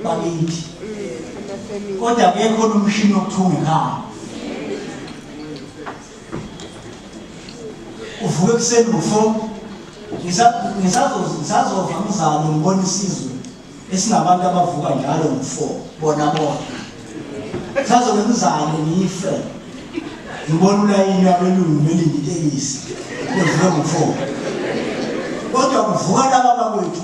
bakithi kodwa kekho nomshini wokuthunga ekhaya uvuke ekuseni ngofo ngisazova umzalo ngibona isizwe esinabantu abavuka njalo ngofo bona bona sazobe umzalo ngife ngibona ulayini abelungu belinditelisi kuvuke ngofo kodwa kuvuka laba bakwethu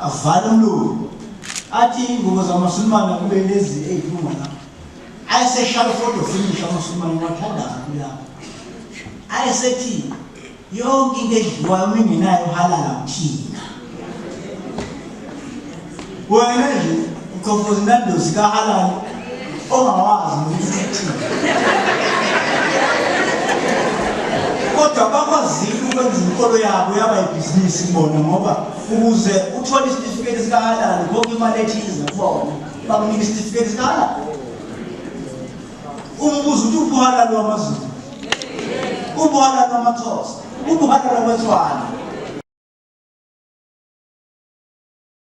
avala umlungu athi iy'ngubo zamasulumane kube lezi ey'phuma lapho ayeseshala ufodo finish amasulumane wathandaza kulapho ayesethi yonke into edliwayo uma ingenayo uhalala uthina wena nje Uqhofoza inandosi kahalali ongawazi nokuthi uthini. Kodwa bakwazile ukwenza inkolo yabo yaba ibhizinisi kubona ngoba ukuze uthole isitifiketi sikahalali konke imali ethize kubona bakunika isitifiketi sikahalali. Umbuzo uthi ubuhalali wamazulu. Ubuhalali wamathosa. Ubuhalali wamathwana.